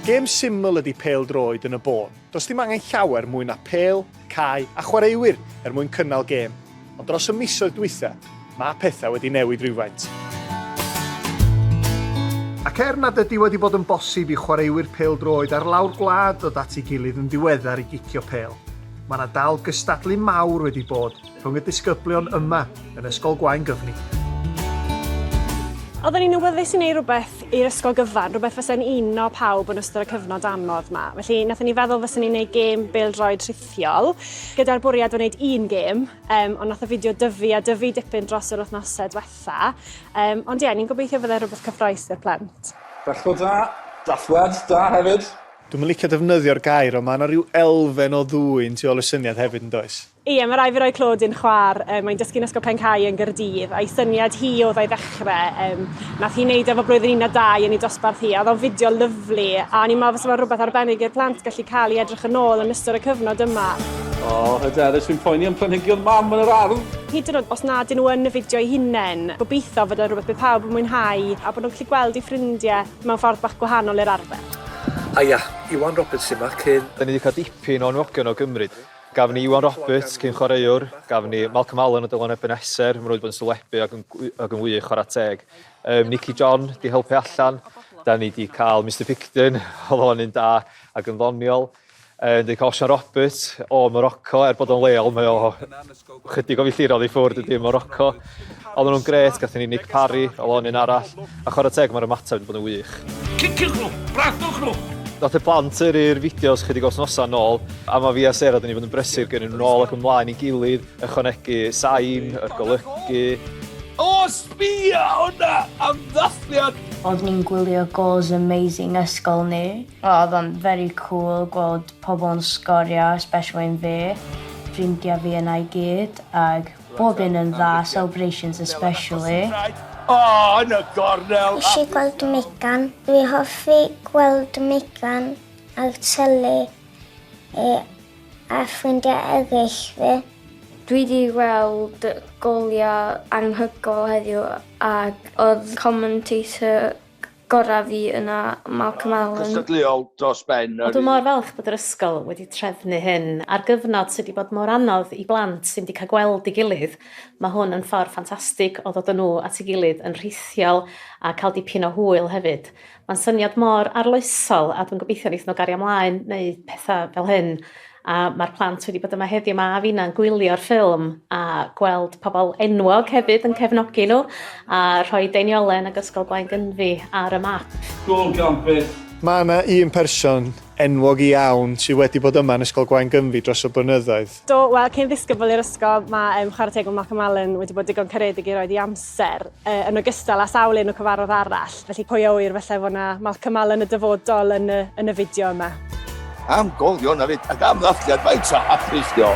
Gêm syml ydy pêl-droed yn y bôn. Does dim angen llawer mwy na pêl, cae a chwaraewyr er mwyn cynnal gêm. Ond dros y misoedd dwytha, mae pethau wedi newid rywfaint. Ac er nad ydy wedi bod yn bosib i chwaraewyr pêl-droed ar lawr gwlad ddod at ei gilydd yn ddiweddar i gicio pêl, mae 'na dal gystadlu mawr wedi bod, rhwng y disgyblion yma yn Ysgol Gwaun Gyfni. Oedden ni'n awyddus i wneud rhywbeth i'r ysgol gyfan, rhywbeth fysa'n uno pawb yn ystod y cyfnod anodd yma. Felly, nathon ni feddwl fysa'n ni'n gwneud gêm bêl-droed rhithiol, gyda'r bwriad o wneud un gêm, um, ond nath y fideo dyfu a dyfu dipyn dros yr wythnosau diwetha. Um, ond ie, yeah, ni'n gobeithio fydde rhywbeth cyffroes i'r plant. Dachlo da, dachwad da hefyd. Dwi'n licio defnyddio'r gair ond mae yna rhyw elfen o ddwyn tu ôl y syniad hefyd yn does? Ie, mae rhaid fi roi clod i'n chwaer, mae'n dysgu'n Ysgol Pen-cae yn Gaerdydd, a'i syniad hi oedd a'i ddechrau, um, nath hi wneud efo blwyddyn un a dau yn ei dosbarth hi, a oedd o'n fideo lyflu, a o'n i'n meddwl fysa fo'n rhywbeth arbennig i'r plant gallu cael i edrych yn ôl yn ystod y cyfnod yma. O, oh, hyderus fi'n poeni am planhigion mam yn yr ardd! Hyd yn oed os nad nhw yn y fideo eu hunain, gobeithio fod o'n rhywbeth bydd pawb yn mwynhau a bod nhw'n gallu gweld eu ffrindiau mewn ffordd bach gwahanol i'r arfer. Aia, Iwan Roberts sy 'ma, cyn. Dan ni 'di cael dipyn o anfogion o gymryd. Gafon ni Iwan Roberts, cyn-chwaraewr, gafon ni Malcolm Allen o Dylan Ebeneser, maen nhw wedi bod yn sylwebu ac yn, ac yn wych, chwarae teg. Um, Nicky John, di helpu allan, da ni di cael Mr Picton, oedd o'n un da ac yn ddoniol. Uh, Dwi'n cael Osian Roberts o Morocco, er bod o'n leol, mae o chydig o filltirodd i ffwrdd ydy Morocco. Oedden nhw'n gret, gathen ni Nick Parry, o lon un arall, a chwarae teg mae'r ymateb wedi bod yn wych. Ciciwch nhw! Bratwch nhw! Nath y plant yrru'r fideos chydig o wythnosau nôl, a mae fi a Sarah wedi bod yn brysur gyrru nhw nôl ac ymlaen i gilydd, ychwanegu sain, yr golygu. O, sbia hwnna! Am ddathliad! Oeddwn i'n gwylio Goals Amazing ysgol ni. Oedd o'n very cool gweld pobl yn sgorio especially yn fi, ffrindia fi yna i gyd ag bob un yn dda celebrations especially. Oh, yn y gornel! Nes i gweld Megan. Dwi hoffi gweld Megan ar tele e, a ffrindiau eraill fi. Dwi wedi gweld goliau anghygol heddiw ac oedd commentator gorau fi yna Malcolm Allen. Cystadleuol dros ben yr un. O dwi mor falch bod yr ysgol wedi trefnu hyn ar gyfnod sy di bod mor anodd i blant sy'm di cael gweld ei gilydd, ma hwn yn ffordd ffantastig o ddod a nhw at ei gilydd yn rhithiol a cael dipyn o hwyl hefyd. Ma'n syniad mor arloesol a dwi'n gobeithio neith nhw gario mlaen neud petha fel hyn a ma'r plant wedi bod yma heddiw 'ma a finna'n gwylio'r ffilm a gweld pobol enwog hefyd yn cefnogi nhw a rhoi deiniolen ag Ysgol Gwaun-gynfi ar y map. Gôl gan byth! Mae yna un person enwog iawn sydd wedi bod yma yn Ysgol Gwaun-gynfi dros y blynyddoedd. Do, wel, cyn ddisgybl i'r ysgol, mae um, chwarae teg o Malcolm Allen wedi bod digon caredig i roed ei amser, uh, yn ogystal â sawl un o cyfarfod arall. Felly pwy a ŵyr falle fod 'na Malcolm Allen y dyfodol yn y, yn y fideo yma. Am golio na fyd ac am ddathliad faint o hapus dio.